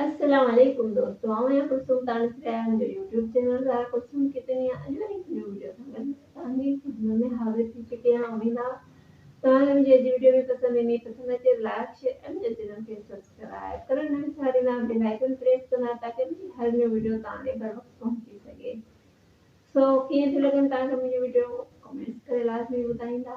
السلام عليڪم دوستو آئون آهيان ڪلثوم تانس ريان جو يوٽيوب چينل ضايا ڪلثوم ڪتي ني اڄ وري هڪ نيو وڊيو سان گڏ توهان جي خدمت ۾ حاضر ٿي چڪي آهيان اميد آهي توهان کي منهنجي اڄ جي وڊيو ۾ پسند ايندي پسند اچي لائڪ شيئر ۽ منهنجي چينل کي سبسڪرائب ڪرڻ نه وساريندا بيل آئيڪن پريس ڪندا تاڪي منهنجي هر نيو وڊيو توهان ڏي بر وقت پهچي سگهي سو ڪيئن ٿي لڳن توهان کي منهنجي وڊيو ڪمينٽس ڪري لازمي ٻڌائيندا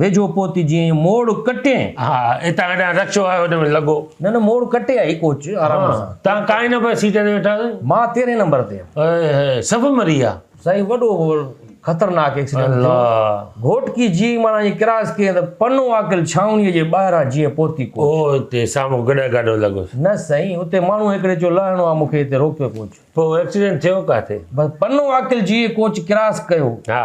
ويجهو پهتي جيئن موڙ ڪٽين. ها، هتان هيڏانهن رڪشو آيو هن ۾ لڳو. نه نه موڙ ڪٽي آئي ڪوچ آرام سان. تان ڪائين نمبر سيٽ تي ويٺا سين. مان تيرهين نمبر تي هيم. هاء هاء سڀ مري ويا. سائين وڏو خطرناڪ ايڪسيڊنٽ ٿيو. گهوٽڪي جيئي ماڻا جي ڪراس ڪيئن ته پنو عاقل ڇانوڻيء جي ٻاهران جيئن پهتي ڪوچ. او هتي سامهون گڏهه گاڏو لڳس. نه سائين اتي ماڻهو هڪڙي چيو لهڻو آ مون کي هتي روڪيو ڪوچ. پوء ايڪسيڊنٽ ٿيو ڪاٿي؟ بس پنو عاقل جيئي ڪوچ ڪراس ڪيو. ها.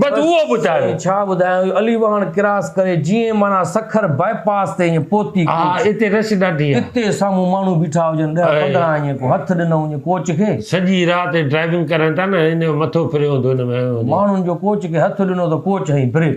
بس اهو ٻڌايو. سائين ڇا ٻڌايان اهو علي واهڻ ڪراس ڪري جيئن معنيٰ سکر باء پاس تي ائين پهتي ها ها اتي رش ڏاڍي آهي. اتي سامهون ماڻهو بيٺا هجن ڏهه پندرهن ائين ڪو هٿ ڏنو هجين ڪوچ کي. سڄي رات ڊرائيونگ ڪرن ٿا نه ان جو مٿو ڦريو هوندو ان ۾ ائين هجي. ماڻهن جو ڪوچ کي هٿ ڏنو ته ڪوچ هنئي بريڪ.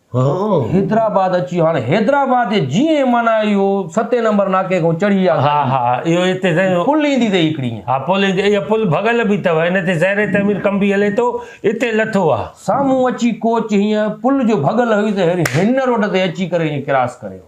حيدرآباد اچي ويو هاڻي حيدرآباد جي جي ايم معنيٰ اهو ستين نمبر ناڪي کان چڙهي اها ها ها اهو هتي سائين پل ايندي اٿئي هڪڙي ائين ها پل ايندي اها پل ڀڳل به اٿو هن تي زير تعمير ڪم به هلي ٿو اتي لٿو ها. سامهون اچي ڪوچ هينئن پل جو ڀڳل هيو ته هينئر هن روڊ تي اچي ڪري هينئن ڪراس ڪري ويو.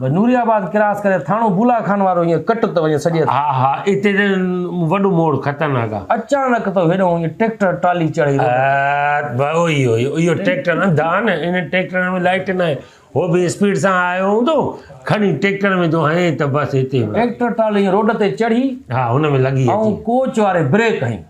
بس نوري آباد ڪراس ڪري ٿاڻو بولا خان وارو ائين ڪٽ ته وڃي سڄي ها ها اتي ته وڏو موڙ خطرناڪ آ. اچانڪ تو هيڏانهون ائين ٽريڪٽر ٽرالي چڙهي روڊ تي. ها اهو ئي اهو ئي اهو ٽريڪٽر انڌا آ نه انهن ٽريڪٽرن ۾ لائٽ ناهي هو به اسپيڊ سان آيو هوندو کڻي ٽريڪٽر ۾ ٿو هنئي ته بس هتي ٽريڪٽر ٽرالي ائين روڊ تي چڙهي ها هن ۾ لڳي اچي ائون ڪوچ واري بريڪ هنئي.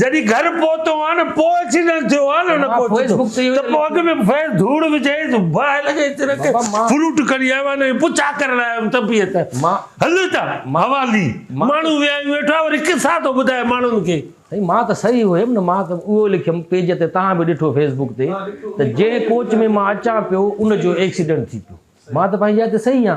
جڏهن گهر پهتو آ نه پوء ايڪسيڊنٽ ٿيو آ نه نه پهچي ٿو ته پوء اڳ ۾ فيس ڌوڙ وجهي باهه لڳي تنهن کي فروٽ کڻي آيو آ نه پچا ڪرڻ آيو هيم ته بيهه ته هل ته حوالي ماڻهو ويهائين ويٺا وري قصا ٿو ٻڌائي ماڻهن کي. سائين مان ته صحيح هيم نه مان ته اهو لکيم پيج تي توهان به ڏٺو فيس بوڪ تي ته جنهن ڪوچ ۾ مان اچان پيو ان جو ايڪسيڊنٽ ٿي پيو مان ته پنهنجي جاء تي صحيح آ.